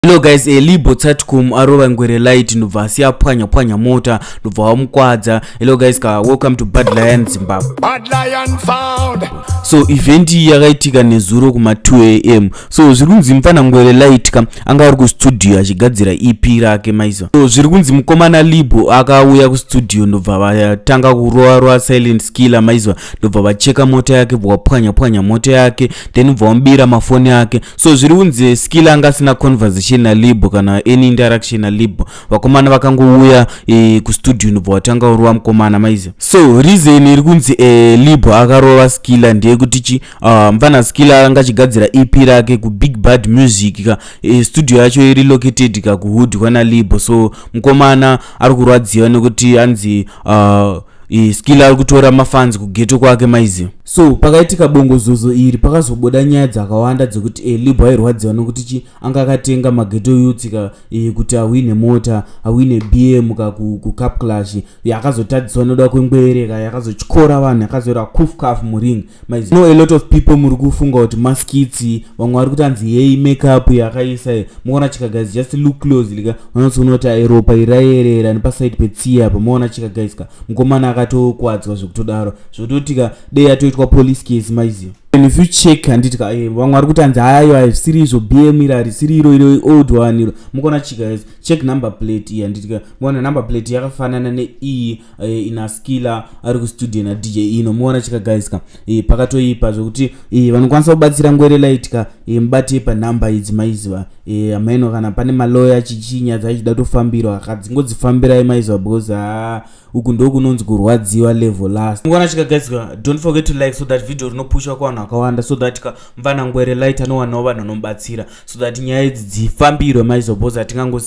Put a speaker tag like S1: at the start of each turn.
S1: Hello guys, a eh, Libo Tsatkum arova ngwere light ndobva asiya pwanya pwanya mota ndobva wamukwadza. Hello guys, ka welcome to Bad Lion Zimbabwe. Bad Lion
S2: found. So event
S1: iyi yakaitika nezuro kuma 2 am. So zviri kunzi mfana ngwere light ka anga ari ku studio achigadzira EP rake maizo. So zviri kunzi mukomana Libo akauya ku studio ndobva vatanga kurova rova silent killer maizo ndobva vacheka mota yake bva pwanya pwanya mota yake then bva wambira mafoni yake so zviri unzi skill anga asina conversation nalib kana any interaction nalib vakomana vakangouya e, kustudio ndobva watanga urova mukomana maizi so reason iri kunzi e, lib akarova skilla ndeyekuti chi uh, ah, mfana skilla anga achigadzira ep rake kubig bad music ka e, studio yacho iri located ka kuhood kwana lib so mukomana ari kurwadziwa nekuti anzi uh, ah, e, skilla ari kutora mafanzi kugeto kwake maizi So pakaitika bongozozo iri pakazobuda nyaya dzakawanda dzekuti e, eh, Libwa airwadziwa nokuti chi anga akatenga mageto youth ka e, kuti ahwine mota ahwine BM ka kuCap Clash yakazotadziswa noda kwengwere ka yakazotyora vanhu yakazoira kuf kaf muring maiz no a lot of people muri kufunga kuti maskitsi vamwe vari kutanzi heyi makeup yakaisa e, muona chika guys just look closely ka unotsoona kuti airopa irayerera nepaside petsiya pamuona chika guys ka mukomana akatokwadzwa zvekutodaro zvototika dei yatoitwa police case maiziva and if you check handiti ka eh, vamwe vari kuti hanzi hayo haisiri izvo bm iri harisiri iro iro old one iro mukaona chika yes check number plate iyi handiti ka muona number plate yakafanana neiyi eh, ina skiller ari kustudio na dj ino muona chika guys ka eh, pakatoipa zvokuti eh, vanokwanisa kubatsira ngwere light ka eh, mubatei panumber idzi maiziva eh, amaino kana pane maloya chichinyadza ichida tofambirwa akadzingodzifambirai maiziva because haa ah, uku ndokunonzi kurwadziwa level last ngwana chikagadzwa don't forget to like so that video rinopushwa kuvanhu vakawanda so that ka mvana ngwere light anowanawo vanhu vanomubatsira so that nyaya idzi dzifambirwe maizoboza tingangosi